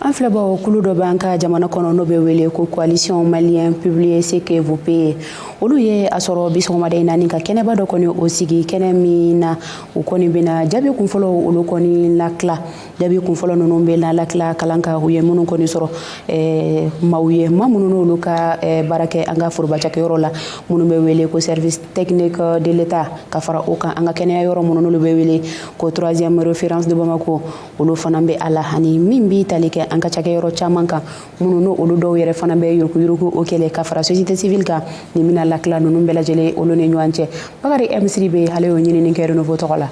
An filɛbaw kulu dɔ b'an ka jamana kɔnɔ n'o bɛ wele ko coalition malienne publiez ce que vous payez olu ye a sɔrɔ bi sɔgɔmada in na ni ka kɛnɛba dɔ kɔni o sigi kɛnɛ min na u kɔni bɛna jaabi kunfɔlɔ olu kɔni latila jaabi kunfɔlɔ ninnu bɛ na latila kalan ka u ye minnu kɔni sɔrɔ eh, maaw ye maa minnu n'olu ka eh, baara kɛ an ka forobacakɛyɔrɔ la minnu bɛ wele ko service technique de l'état ka fara o kan an ka kɛnɛya yɔrɔ minnu n'olu bɛ wele ko troisième référence de bamako olu fana bɛ a la ani min b'i tali kɛ an ka cakɛ yɔrɔ caman kan minnu n'o olu dɔw yɛrɛ fana bɛ yuruguyurugu o kɛlɛ ka fara société civile kan nin bɛna latila ninnu bɛɛ lajɛlen olu ni ɲɔgɔn cɛ bakari m sidibe ale y'o ɲinini kɛ renouveau tɔgɔ la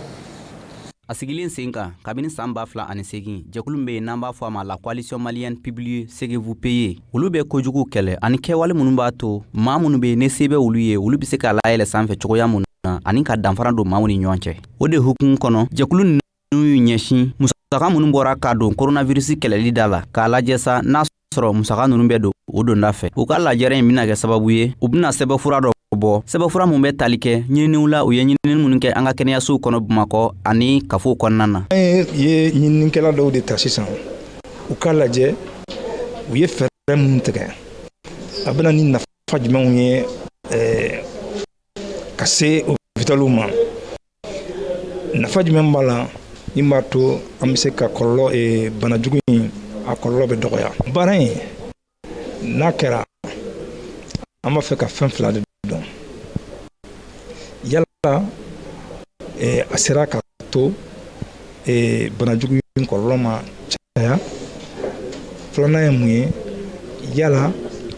a sigilen sen kan kabini san ba fila ani segin jɛkulu be yen n'an b'a fɔ a ma la coalition malienne publiez ce que vous payez olu be kojugu kɛlɛ ani kɛwale minnu b'a to maa minnu be ne se be olu ye olu be se k'a layɛlɛ sanfɛ cogoya minnu na ani ka danfara don maaw ni ɲɔgɔn cɛ o de hukumu kɔnɔ jɛkulu n'u y'u ɲɛsin musaka minnu bɔra k'a don koronavirisi kɛlɛli da la k'a lajɛ sa n'a sɔrɔ musaka ninnu bɛ don u donda fɛ u ka lajɛrɛ in bɛna kɛ sababu ye u bɛna sɛbɛfura dɔ bɔ sɛbɛfura min bɛ tali kɛ ɲininiw la u ye ɲinini minnu kɛ an ka kɛnɛyasow kɔnɔ bamakɔ ani kafow kɔnɔna na an ye ɲininikɛla dɔw de ta sisan u ka lajɛ u ye fɛɛrɛ minnu tigɛ a bɛna ni nafa jumɛnw ye ka se opitaliw ma nafa jumɛn b'a la min b'a to an bɛ se ka kɔlɔlɔ eh, bana jugu in a kɔlɔlɔ bɛ dɔgɔya baara in n'a kɛra an b'a fɛ ka fɛn fila de dɔn yala eh, a sera ka to eh, bana jugu in kɔlɔlɔ ma caya filanan ye mun ye yala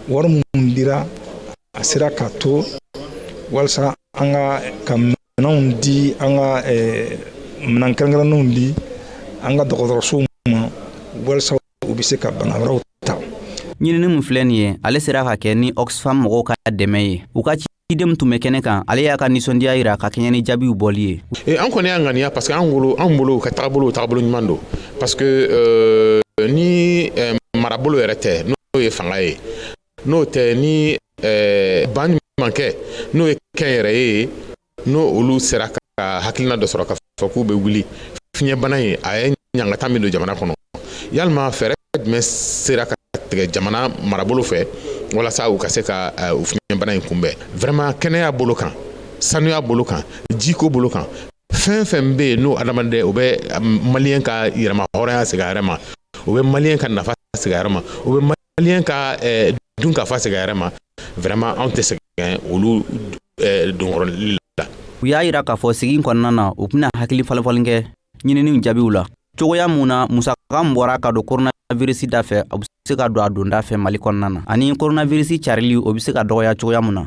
wari minnu dira a sera ka to walasa an ka ka minɛnw di an ka minɛn kɛrɛnkɛrɛnnenw di an ka dɔgɔtɔrɔsow ma walasa u bɛ se ka banabaatɔw ta ɲinini min filɛ nin ye ale sera ka kɛ ni oxfam mɔgɔw ka dɛmɛ ye u ka ciden min tun bɛ kɛnɛ kan ale y'a ka nisɔndiya jira ka kɛɲɛ ni jaabiw bɔli ye e, an kɔni y'a ŋaniya parce que an bolo an bolo ka taabolo taabolo ɲuman don parce que euh, ni euh, marabolo yɛrɛ tɛ n'o ye fanga ye n'o tɛ ni ban mankɛ n'o ye kɛnyɛrɛye n'o olu sera ka hakilina dɔ sɔrɔ k'a fɔ k'u bɛ wuli fiɲɛbana in a ye ɲangata min don jamana kɔnɔ yalima fɛɛrɛ jumɛn sera ka tigɛ jamana marabolo fɛ walasa u ka se ka u fiɲɛbana in kunbɛn vraiment kɛnɛya bolo kan sanuya bolo kan jiko bolo kan fɛn fɛn bɛ yen n'o adamaden o bɛ maliyɛn ka yɛrɛmahɔrɔnya segin a yɛrɛ ma o bɛ maliyɛn ka nafa segin a yɛrɛ ma o bɛ Maliyɛn ka eh, dunkafa segin a yɛrɛ ma vraiment anw tɛ sɛgɛn olu eh, donkɔrɔli la u y'a yira k'a fɔ sigi kɔnɔna na u bɛna hakili falenfalen kɛ ɲininiw jaabiw la cogoya mun na musaka min bɔra ka don koronavirisi da fɛ o bɛ se ka don a donda fɛ mali kɔnɔna na ani koronavirisi carili o bɛ se ka dɔgɔya cogoya mun na